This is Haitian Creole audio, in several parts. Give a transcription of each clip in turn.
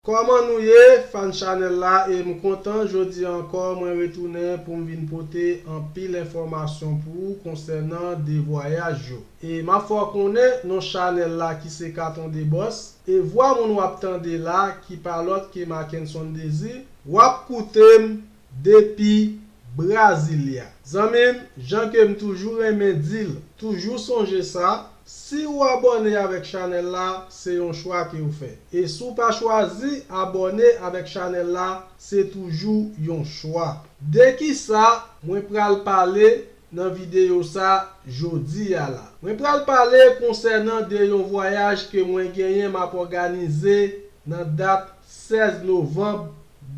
Kòman nou ye fan chanèl la e m kontan jodi a ankò mwen retounen pou m vin pote anpil enfòmasyon pou ou konsènan 2 vwayaj yo. E map fè w konnen non chanèl la ki se Katon de Bòs, e vwa moun wap tande la ki pa lòt ke Mackenson Désir, wap koute m depi Brasilia. Zanmi m, jan ke m toujou renmen di l, toujou sonje sa, si ou abòne avèk chanèl la, se yon chwa ke w fè. E si w pa chwazi abòne avèk chanèl la, se toujou yon chwa. De kisa mwen pral pale Nan videyo sa, jodi a la. Mwen pral pale konsènan de yon vwayaj ke mwen genyen map òganize nan dat 16 novanb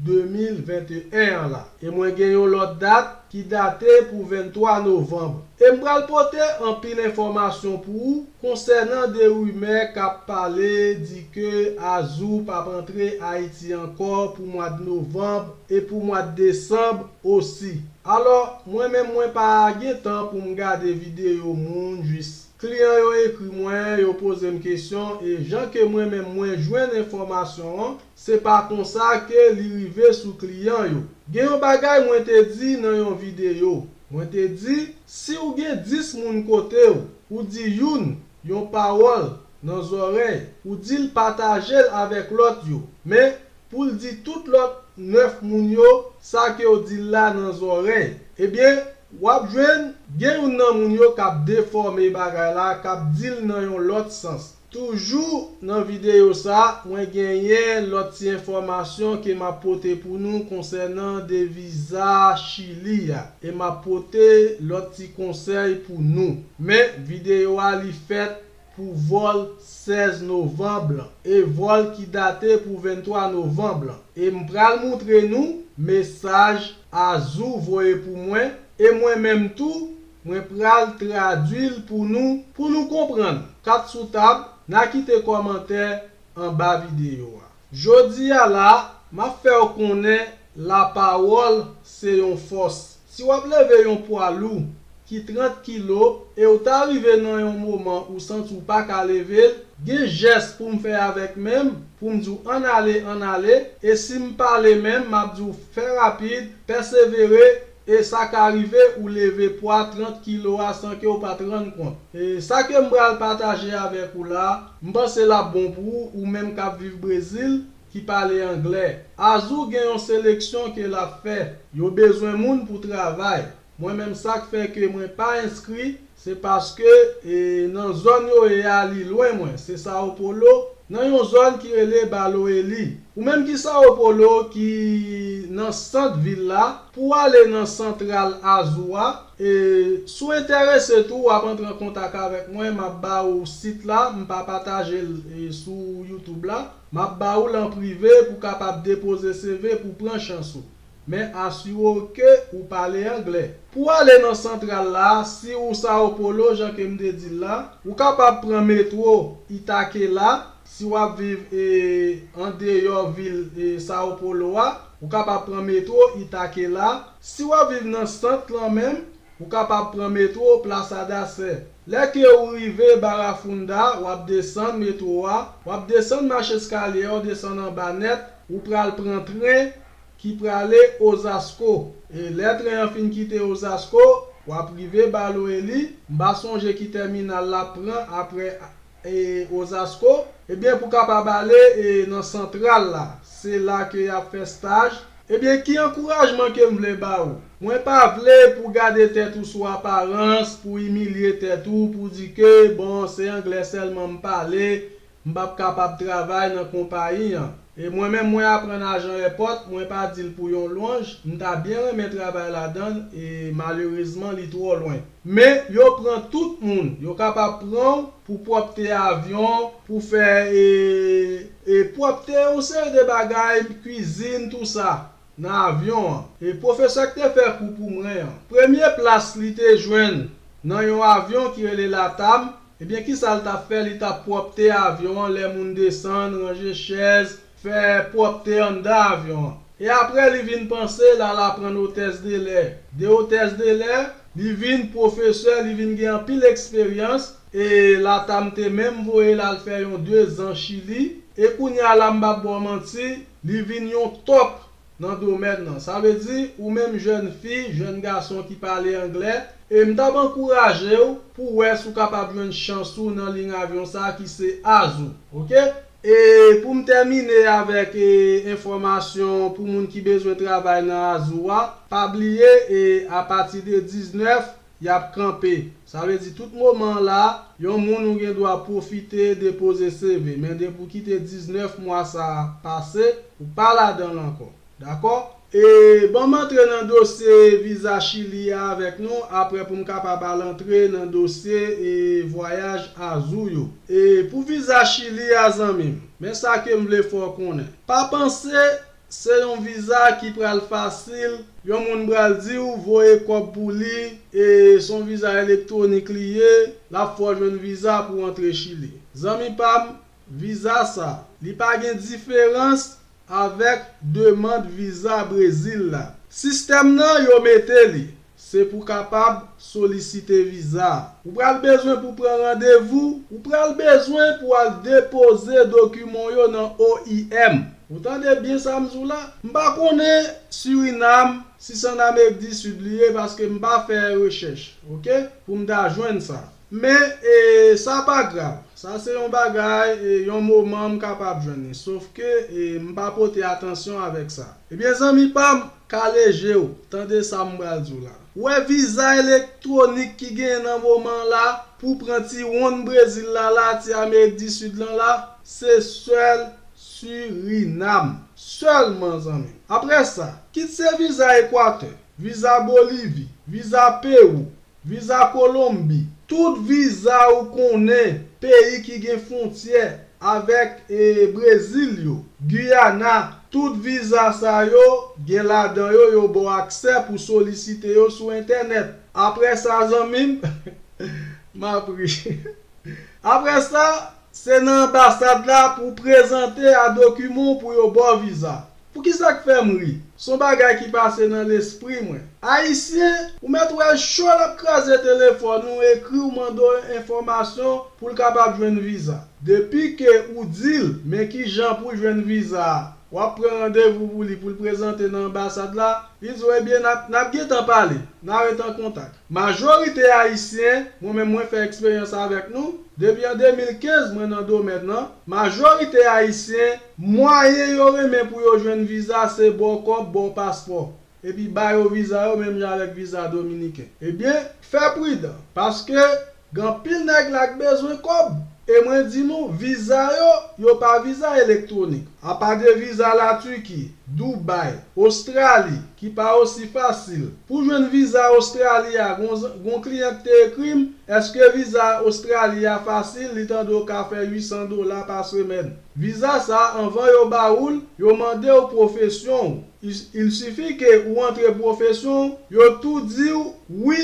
2021 an la. E mwen gen yon lòt dat ki date pou 23 novanb. E m pral pote anpil enfòmasyon pou ou konsènan de rimè kap pale di ke Azou pap antre Ayiti ankò pou mwad novanb e pou mwad desanb Osi. Alò, mwen menm mwen pa gen tan pou m gade videyo moun jis. Kliyan yo ekri mwen, yo poze m kesyon e jan ke mwen menm mwen jwenn enfòmasyon an, se pa konsa ke li rive sou kliyan yo. Gen yon bagay mwen te di nan yon videyo. Mwen te di, si ou gen 10 moun kote ou, ou di youn yon pawòl nan zòrèy, ou di l pataje l avèk lòt yo. Men, pou l di tout lòt 9 moun yo sa ke w di l la nan zòrèy, ebyen w ap jwenn gen youn nan moun yo k ap defòme bagay la, k ap di l nan yon lòt sans. Toujou nan videyo sa, mwen genyen lòt ti enfòmasyon ke m ap pote pou nou konsènan de viza Chili a, e m ap pote lòt ti konsèy pou nou. Men, videyo a li fèt pou vòl 16 novanb lan e vòl ki date pou 23 novanb lan e m pral moutre nou mesaj Azou voye pou mwen e mwen menm tou mwen pral tradui l pou nou pou nou konprann. Kat sou tab, na kite kòmantè anba videyo a. Jodi a la, m ap fè w konnen lapawòl se yon fòs. Si w ap leve yon pwa lou ki 30 kilo e w ta rive nan yon moman ou santi w pa ka leve l, gen jès pou m fè avèk men m pou m di w ann ale, ann ale, e si m pale men m ap di w fè rapid, pèsevere, E sa ka rive ou leve pwa 30 kilo a san ke ou pa t rann kont. E sa ke m pral pataje avèk ou la, m panse l ap bon pou ou, ou menm k ap viv Brezil, ki pale anglè. Azul gen yon seleksyon ke l ap fè. Yo bezwen moun pou travay. Mwen menm sa k fè ke mwen pa enskri, Se paske nan zòn yo ye a li lwen mwen, se Sao Paulo, nan yon zòn ki rele Baloelli. Ou menm ki Sao Paulo ki nan sant vil la, pou w ale nan santral Azul a, e si w enterese tou w ap antre an kontak avèk mwen, m ap ba ou sit la, m pa pataje l sou YouTube la, m ap ba ou l an prive pou w kapab depoze CV pou w pran chans ou. men asire w ke ou pale anglè. Pou w ale nan santral la, si ou Sao Paulo jan ke m te di l la, ou kapab pran metro Itaquela, si w ap viv an deyò vil Sao Paulo a, ou kapab pran metro Itaquela, si w ap viv nan sant lan menm, ou kapab pran metro Plaça da Sé. Lè ke ou rive Barafunda, w ap desann metro a, w ap desann macheskalye a, w desann anba nèt, ou pral pran tren ki prale Ozasko e lè tren an fin kite Ozasko wap rive Balo Eli, m pa sonje ki tèminal lap pran aprè e Ozasko, ebyen pou kapab ale e nan santral la, se la ke yap fè staj. Ebyen ki ankourajman ke m vle ba ou? Mwen pa vle pou gade tèt ou sou aparans, pou imilye tèt ou, pou di ke bon se anglè sèlman m pale, M p ap kapab travay nan konpayi an. E mwen menm mwen aprann a Jean Èpòt, mwen pa di l pou yon lwanj, m ta byen renmen travay ladan l e malerezman li twò lwen. Men, yo pran tout moun. Yo kapab pran w pou pwòpte avyon, pou fè e, e pwòpte yon seri de bagay, kwizin, tou sa. nan avyon an. E pwofesè k te fè kou pou mwen an, premye plas li te jwenn nan yon avyon ki rele LATAM, ebyen kisa l t ap fè? Li t ap pwòpte avyon an lè moun desann, ranje chèz, fè pwòpte anndan avyon an. E apre li vin panse l al aprann otès de lè. De otès de lè, li vin pwofesè, li vin gen anpil eksperyans e LATAM te menm voye l al fè yon dezan Chili. E kounye a la m p ap ba w manti, Li vin yon top nan domèn nan. Sa vle di, ou menm jèn fi, jèn gason ki pale anglè, e m t ap ankouraje w pou w wè si w kapab jwenn chans ou nan liy avyon sa ki se Azul. Ok? E pou m tèmine avèk enfòmasyon pou moun ki bezwen travay nan Azul a, pa bliye e apati de 19 y ap kanpe. Sa vle di tout moman an la a, yon moun ou gen dwa pwofite depoze CV, men depi ou kite 19 mwa sa a pase, ou pa ladan l ankò. Dakò? E ban m antre nan dosye viza Chili a avèk nou, aprè pou m kapab al antre nan dosye e vwayaj Azou yo. E pou viza Chili a zanmi m, men sa ke m vle fè w konnen. Pa panse Se yon viza ki pral fasil, yon moun pral di w voye kòb pou li e se yon viza elektwonik li ye, l ap fè w jwenn viza pou w antre Chili. Zanmi pa m, viza sa, li pa gen diferans avèk demand viza Brezil la. Sistèm nan yo mete li, Se pou kapab solisite viza a. Ou pral bezwen pou pran randevou. Ou pral bezwen pou al depoze dokiman w yo nan oim. Ou tande byen sa m di w la? M pa konnen Surinam, si s an Amerik di Sid li ye paske m pa fè rechèch, ok, pou m ta jwenn sa. Men, sa pa grav. Sa se yon bagay, yon moman m kapab jwenn li. Sofke, m pa pote atansyon avèk sa. Ebyen, zanmi pa m, kale je w, tande sa m pral di w la. Ou wè viza elektwonik ki genyen nan moman an la, pou pran ti wonn Brezil la la, ti Amerik di Sid lan la, se sèl Surinam. Sèlman, zanmi m. Apre sa, kit se viza Ekwatè, viza Bolivi, viza Pewou, Viza Kolonbi, Tout viza ou konnen peyi ki gen fontyè avèk Brezil yo, Guyana, tout viza sa yo gen ladan yo yo ba w aksè pou solisite yo sou entènèt. Aprè sa zanmi m, m ap ri. Aprè sa, se nan anbasad la pou w prezante a dokiman w pou yo ba w viza. Poukisa k fè m ri? S on bagay ki pase nan lespri mwen. Ayisyen, ou mèt wè cho l ap kraze telefòn ou ekri w mande w enfòmasyon pou l kapab jwenn viza. Depi ke ou di l men kijan pou jwenn viza a, w ap pran randevou pou li pou l prezante nan anbasad la, li di w ebyen n ap n ap gen tan pale, n a ret an kontak. Majorite Ayisyen, mwen menm mwen fè eksperyans avèk nou, depi an 2015 mwen nan domèn nan, majorite Ayisyen, Mwayen yo renmen pou yo jwenn viza se ba w kòb, ba w paspò, epi ba yo viza yo menm jan avèk viza dominiken. Ebyen, fè pridan, paske gen anpil nèg la k bezwen kòb, e mwen di nou, viza yo, yo pa viza elektwonik. Apa de viza La Turki, Dubai, Ostrali, ki pa osi fasil. Pou jwenn viza Ostrali a, gen w kliyan k te ekri m, èske viza Ostrali a fasil, li tande w ka fè 800 dola pa semèn. Viza sa anvan yo ba ou l yo mande w pwofesyon w il sifi ke ou antre pwofesyon w yo tou di w wi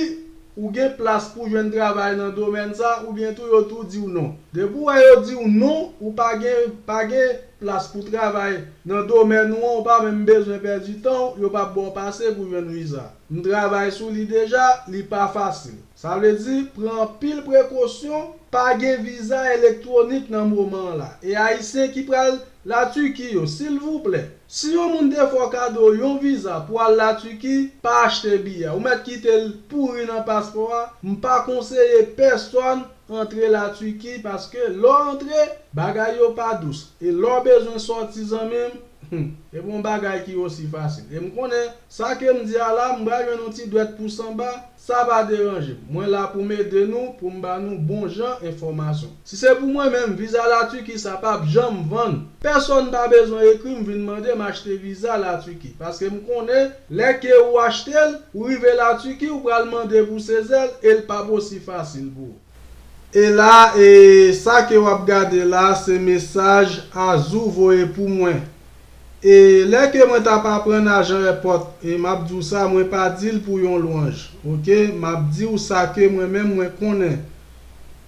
ou gen plas pou jwenn travay nan domèn sa oubyen tou yo tou di w non depi w wè yo di w non ou pa gen pa gen plas pou travay nan domèn ou an ou pa menm bezwen pèdi tan w yo pa p ba w pase pou jwenn viza m travay sou li deja li pa fasil. Sa vle di, pran anpil prekosyon, pa gen viza elektwonik nan moman an la. E Ayisyen ki pral La Turquie yo, silvouplè, si yon moun te fè w kado yon viza pou al La Turquie, pa achte biyè a. Ou mèt kite l pouri nan paspò a. M pa konseye pèsòn antre La Turquie paske lè w antre, bagay yo pa dous. E lè w bezwen sòti zanmi m, hum, e pa yon bagay ki osi fasil. E m konnen, sa ke m di a la, m pral jwenn yon ti dwèt pou sanba, Sa pa deranje m. Mwen la pou m ede nou, pou m ba nou bon jan enfòmasyon. Si se pou mwen menm, viza la Turquie sa pa p janm vann. Pèsonn pa bezwen ekri m vin mande m achte viza la Turquie. Paske m konnen, lè ke ou achte l, ou rive la Turquie ou pral mande pou sezè l e l pa p osi fasil pou ou. E la e sa ke wap gade la se mesaj Azou voye pou mwen. E lè ke mwen tap aprann ajan èpòt e map di w sa mwen pa di l pou yon lwanj ok map di w sa ke mwen menm mwen konnen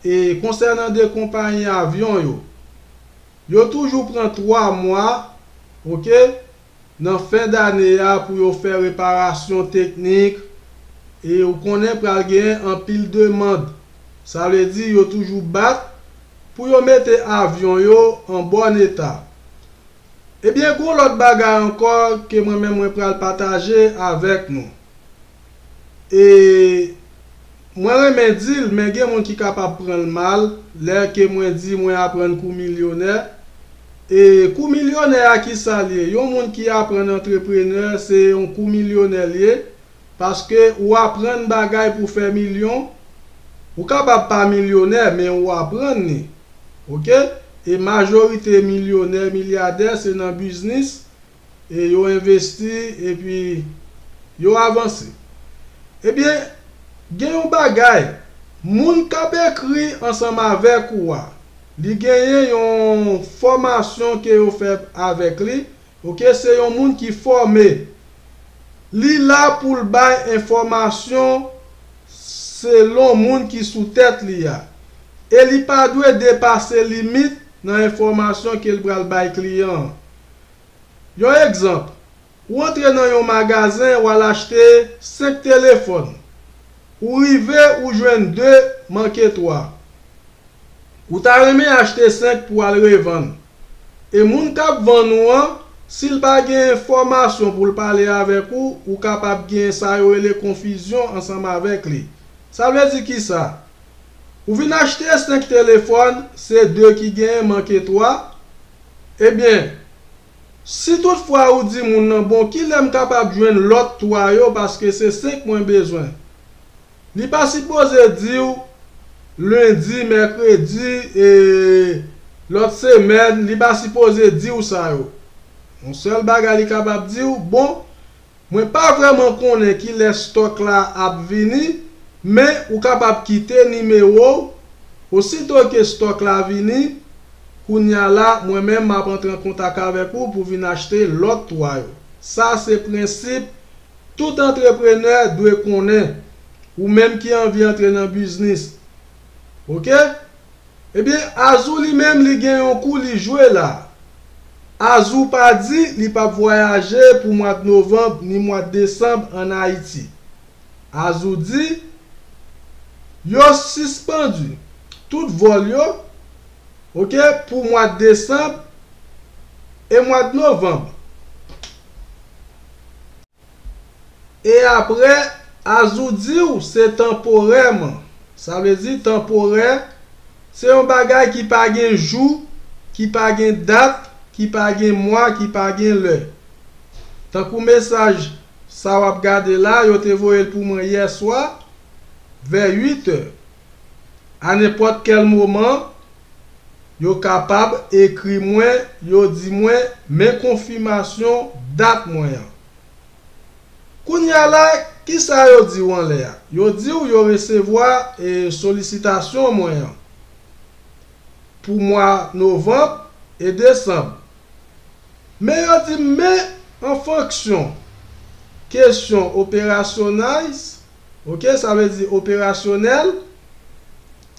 e konsènan 2 konpayi avyon yo yo toujou pran 3 mwa ok nan fen dane a pou yo fè reparasyon teknik e ou konnen pral gen anpil demand. Sa vle di yo toujou bat pou yo mete avyon yo an bòn eta. Ebyen gon lòt bagay ankò ke mwen menm mwen pral pataje avèk nou. e mwen renmen dil men gen moun ki kapab pranl mal lè ke mwen di mwen aprann kou milyonè e kou milyonè a kisal ye yon moun ki aprann antreprenè se yon kou milyonè lye paske ou aprann bagay pou fè milyon ou kapab pa milyonè men ou aprann li ok e majorite milyonè milyadè se nan biznis e yo envesti epi yo avanse. Ebyen, gen yon bagay, moun k ap ekri ansanm avèk ou a, li genyen yon fòmasyon ke yo fè avèk li, ok, se yon moun ki fòme. Li la pou l bay enfòmasyon selon moun ki sou tèt li a. E li pa dwe depase limit nan enfòmasyon ke l pral bay kliyan an. Yon egzanp, ou antre nan yon magazen wal achte 5 telefòn, ou rive ou jwenn 2 manke 3. Ou ta renmen achte 5 pou al revann. E moun kap vann ou an, sil pa gen enfòmasyon poul pale avèk ou, ou kapab gen sa yo rele konfizyon ansanm avèk li. Sa vle di kisa? Ou vin achte 5 telefòn se 2 ki genyen manke 3? Ebyen si tout fwa ou di moun nan bon kilè m kapab jwenn lòt 3 yo paske se 5 mwen bezwen? Li pa sipoze di w lendi, mèkredi e lòt semèn li pa sipoze di w sa yo. Yon sèl bagay li kapab di w bon Mwen pa vrèman konnen kilè stock la ap vini men ou kapab kite nimewo w osito ke stock la vini kounya la mwen menm map antre an kontak avèk ou pou vin achte lòt 3 yo sa se prensip tout antreprenè dwe konnen ou menm ki anvi antre nan biznis ok ebyen azou li menm li gen yon kou li jwe la azou pa di li pap vwayaje pou mwad novanb ni mwad desanb an ayiti azou di yo sispandu tout vòl yo ok pou mwad desanb e mwad novanb. E apre, Azou di w se tanporèman. Sa vle di tanporè, se yon bagay ki pa gen jou, ki pa gen dat, ki pa gen mwa, ki pa gen lè. Tankou mesaj sa w ap gade la, yo te voye l pou mwen yèswa vè 8 è. Anenpòt kèl moman, yo kapab ekri mwen yo di mwen men konfimasyon dat mwen an. Kounye a la, kisa yo di w anlè a? Yo di w yo resevwa solisitasyon mwen an pou mwa novanb e desanb. Men yo di m men an fonksyon kesyon operasyonais, ok sa vle di operasyonèl,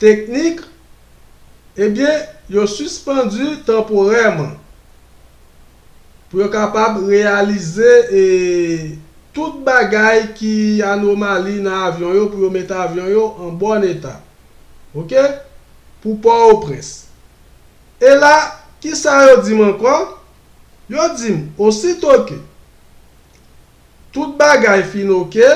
teknik, ebyen yo sispandu tanporèman pou yo kapab reyalize e tout bagay ki anomali nan avyon yo pou yo mete avyon yo an bòn eta ok pou Pòoprens. E la kisa yo dim ankò? Yo dim osito ke Tout bagay fin oke,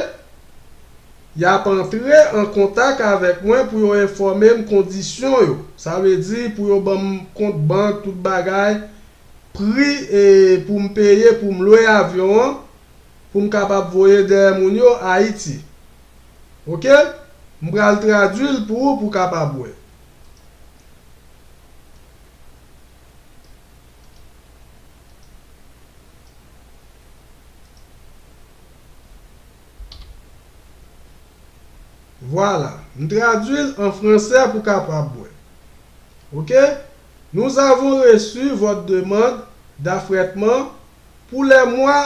y ap antre an kontak avèk mwen pou yo enfòme m kondisyon yo. Sa vle di pou yo ban m kont bank, tout bagay, pri pou m peye pou m lwe avyon an pou m kapab voye dèyè moun yo Ayiti. Oke, m pral tradui l pou ou pou w kapab wè. Vwala, m tradui l an fransè pou kapab wè. Ok. Nous avons reçu votre demande d'affrètement pour les mois.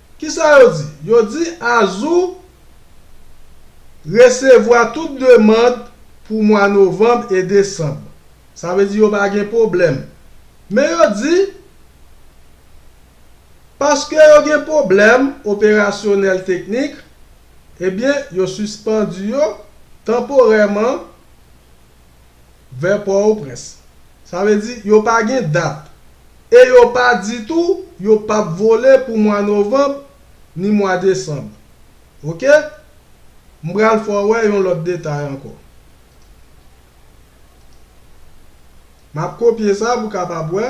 Kisa yo di? Yo di Azou resevwa tout demand pou mwa novanb e desanb. Sa vle di yo pa gen pwoblèm. Men yo di, paske yo gen pwoblèm operasyonèl teknik, ebyen yo sispandu yo tanporèman. vè Pò-o-Prens. Sa vle di yo pa gen dat e yo pa di tou yo p ap vole pou mwa novanb ni mwa desanb. Ok. M pral fè w wè yon lòt detay ankò. M ap kopye sa pou w kapab wè.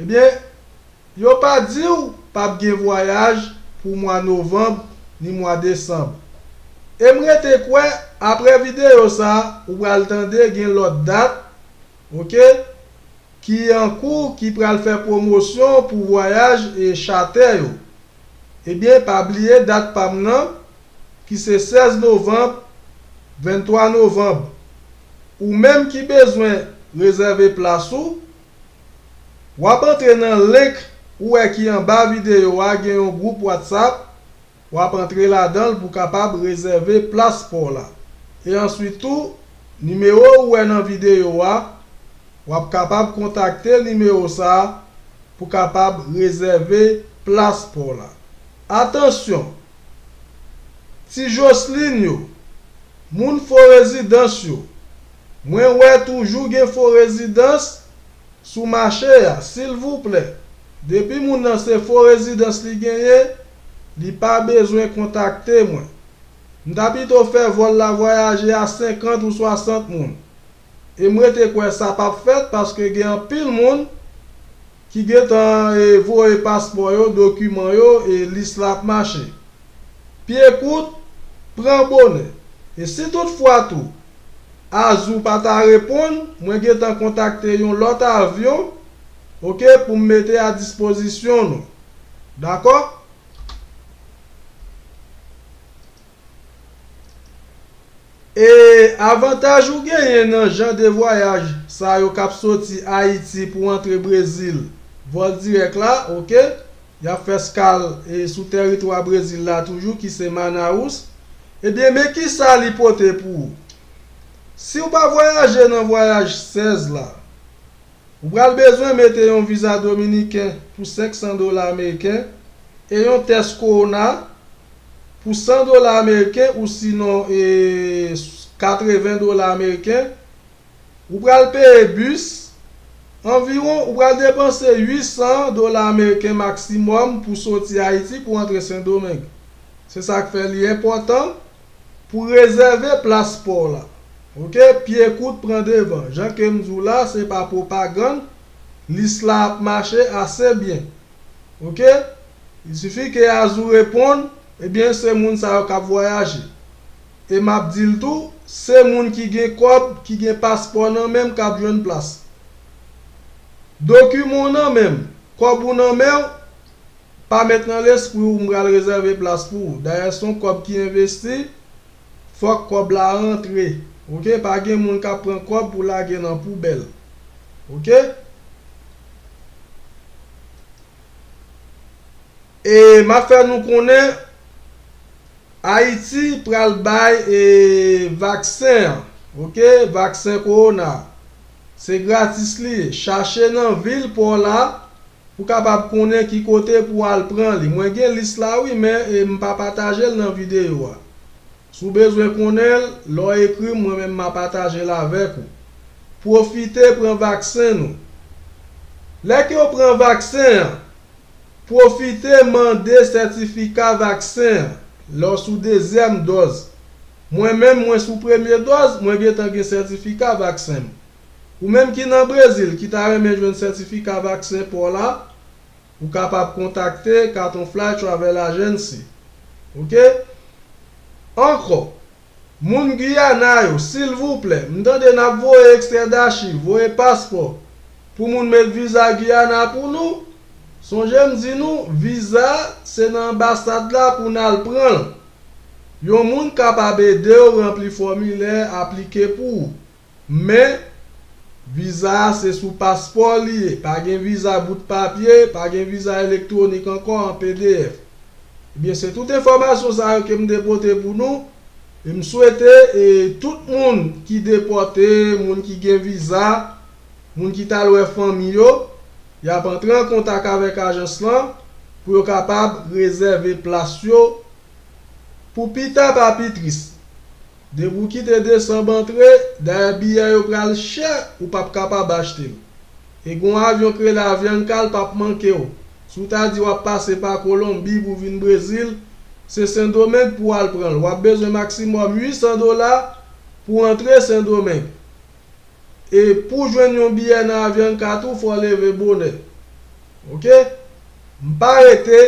Ebyen yo pa diw pap gen vwayaj pou mwa novanb ni mwa desanb. Em rete kwè aprè video sa ou pral tande gen lòt dat ok ki ankou ki pral fè pwomosyon pou vwayaj chatè yo. Ebyen pa bliye dat pam lan ki se 16 novanb 23 novanb. Ou menm ki bezwen rezève plas ou. Wap antre nan link ou wè ki anba video a gen yon group WhatsApp wap antre ladanl pou kapab rezève plas paw la e answit tou nimewo ou wè nan video a wap kapab kontakte nimewo sa pou kapab rezève plas paw la atansyon Ti joslin yo, moun fo rezidans yo, mwen wè toujou gen fo rezidans sou mache a silvouplè depi moun nan se fo rezidans li genyen li pa bezwen kontakte mwen. M ta pito fè vòl la vwayaje a 50 ou 60 moun. E m rete kwè sa pap fèt paske gen anpil moun ki gentan voye paspò yo, dokiman yo e lis la ap mache. Pye kout, pran bonè. E si tout fwa tou Azul pa ta reponn, mwen gentan kontakte yon lòt avyon ok pou m mete a dispozisyon nou. Dakò? E avantaj ou genyen nan jan de vwayaj sa yo kap soti Ayiti pou antre Brezil, vòl dirèk la, ok, yap fè skal e sou tèritwa Brezil la toujou ki se Manaus, ebyen men kisa li pote pou ou. Siw pa vwayaje nan vwayaj 16 la. Ou pral bezwen mete yon viza dominiken pou 500 dola ameriken e yon tès kowona pou 100 dola ameriken ou sinon 80 dola ameriken. Ou pral peye bis, anviwon ou pral depanse 800 dola ameriken maksimòm pou soti Ayiti pou antre Sendomeng. Se sa k fè li enpòtan Pou rezève plas paw la. Ok pye kout pran devan jan kem diw la se pa pwopagann lis la ap mache ase byen ok il suffit ke Azou reponn ebyen se moun sa yo kap vwayaje e map dil tou se moun ki gen kòb ki gen paspò nan menm kap jwenn plas dokiman w nan menm kòb ou nan menw Pa met nan lespri w m pral rezève plas pou w dayè son kòb ki envesti fòk kòb la rantre ok pa gen moun kap pran kòb pou lage nan poubèl ok e map fè nou konnen ayiti pral bay e vaksen an ok vaksen kowona se gratis li ye chache nan vil paw la Ou kapab konnen ki kote pou al pran li. Mwen gen lis la wi men m pa pataje l nan videyo a. Si w bezwen konnen l, lè w ekri m mwen menm ma pataje l avèk ou. Pwofite pran vaksen nou. Lè ke w pran vaksen an, pwofite mande sètifika vaksen an lè w sou dezyèm dòz. Mwen menm mwen sou premye dòz, mwen gentan gen sètifika vaksen m. Ou menm ki nan Brezil ki ta renmen jwenn sètifika vaksen paw la, ou kapab kontakte Carton Fly Travel Agency. Ok. Ankò, moun Guyana yo, silvouplè, m tande nap voye ekstrè dachiv, voye paspò, pou moun met viza Guyana pou nou. Sonje m di nou, viza se nan anbasad la pou nal pranl. Yon moun kapab edew ranpli fòmilè, aplike pou ou. Men, viza a se sou paspò li ye, pa gen viza bout papye, pa gen viza elektwonik ankò an pdf. Ebyen, se tout enfòmasyon sa yo ke m te pote pou nou, e m swete e tout moun ki depòte, moun ki gen viza, moun ki t al wè fanmi yo, y ap antre an kontak avèk ajans lan pou yo kapab rezève plas yo, Pou pita pa pi tris. Depi w kite desanm antre, dayè biyè yo pral chè ou pap kapab achte l. E gon avyon k rele Avianca l pap manke w. Si w ta di wap pase pa Kolonbi pou vin Brezil, se Sendomeng pou w al pran l. Wap bezwen maksimòm 800 dola pou antre Sendomeng. e pouw jwenn yon biyè nan Avianca tou fòw leve bonè ok m pa rete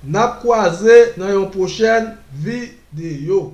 nap kwaze nan yon pwochèn videyo.